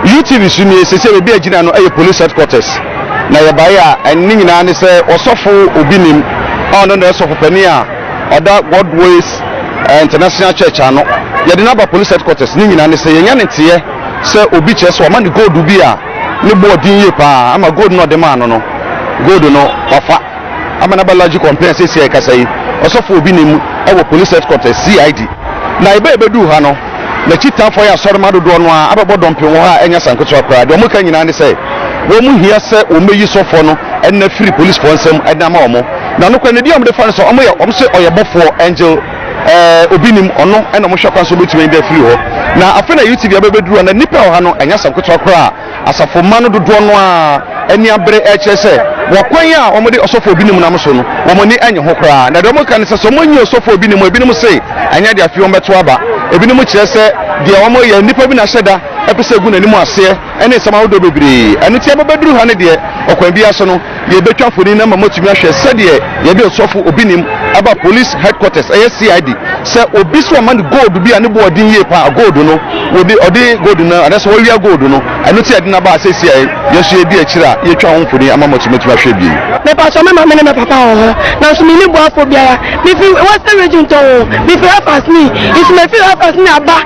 UTV so nie sɛ sɛ baabi a gyina no yɛ police headquarters na yɛbaeɛ a ɛne nyinaa ne sɛ ɔsɔfo obi nim a ɔno na ɛsɔfo panin a ɔda Godways eh, International Church ano yɛde no aba police headquarters ne nyinaa ne sɛ yɛnya ne teɛ sɛ obi kyerɛ sɛ ɔma ne gold bi a ne bɔɔ din yie paa ama gold no ɔde maa no no gold no wafa ama no aba Laji Kɔmpɛn a seesei a yɛkasa yi, ɔsɔfo obi nni mu wɔ Police Headquarters, CID. Na bere a yebeduu ha no, n'akyi tamfo ayɛ asɔremma dodoɔ no ara abɛbɔ dɔmpem wɔ ha a ɛnyɛ asanketewa koraa. Deɛ wɔka nyinaa ne sɛ, wɔhia sɛ wɔbɛyi sɔfoɔ no nne afiri polisifoɔ nsam de ama wɔn. Na nokorɛ no, edin a wɔde fa no sɛ wɔyɛ, wɔse ɔyɛ bɔfoɔ, angel, eh, obi nnim, ɔno na wɔhwɛ kwan sɛ wɔbɛtumi anya afiri hɔ. Na afei na UTV abɛbɛduru ha, na nnipa a ɛwɔ ha no, ɛnyɛ asanketewa koraa. Asafo mma no dodoɔ no ara ani abere rekyerɛ sɛ wɔ kwan a wɔde ɔsɔfoɔ binom nam so no, wɔn ani nnye ho koraa. Na deɛ wɔka ne sɛ, sɛ wɔnyi ɔsɔfoɔ bi nom a, ebinom se ɛnyɛ de afei wɔbɛto aba. Ebinom kyerɛ sɛ deɛ wɔyɛ, nnipa bi na ahyɛ da pɛ sɛ ɛgu n'anim aseɛ, ne nsɛm ahodoɔ bebree. Ɛno nti, ɛbɛbɛduru ha no deɛ, ɔkwan biara so no, Yɛbɛtwa mfonin ama moatumi ahwɛ sɛdeɛ yɛde ɔsɔfo obi nim aba police headquarters, ɛyɛ CID, sɛ obi sɛ ɔma no gold bi a ne boɔ den yie paa, gold no, wɔde, ɔde gold no, anaasɛ wɔawia gold no, ɛno nti a yɛde no aba ha seesei a yɛn nso yɛredi akyire a yɛretwa ho mfonin ama mo nso moatumi ahwɛ bio. Mepakyɛ me maame ne me papa wɔ hɔ nanso menni boafoɔ biara. Mefi Western Region tɔnn o, mefi Hafas ni, nso mefiri Hafas ni aba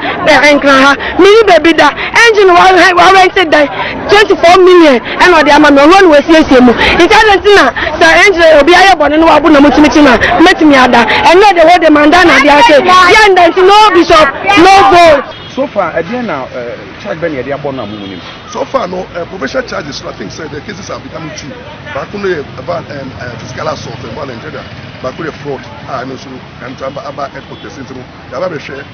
Nkran ha. Menni baabi da, engine wa, wɔarɛnte dan, Twenty four million ɛna ɔde ama me ɔhɔ na wasiesie mu nti adɛn nti na sɛ ɛnkyerɛ obi ayɛ bɔne na wabo na mo kyimi kyimi a mɛtumi ada ɛnɛ de hɔ de manda na adeɛ ase deɛ nda nti no bishop no vote. So far ɛdeɛn na charge bɛ na yɛde abɔ no a mo mo nim. So far no eh, provincial charges no I think sɛ the cases are becoming two baako no yɛ about um, uh, physical assault and violent ɛda baako yɛ fraud a ɛno nso ɛntra aba headquarters nti no yaba bɛhwɛ.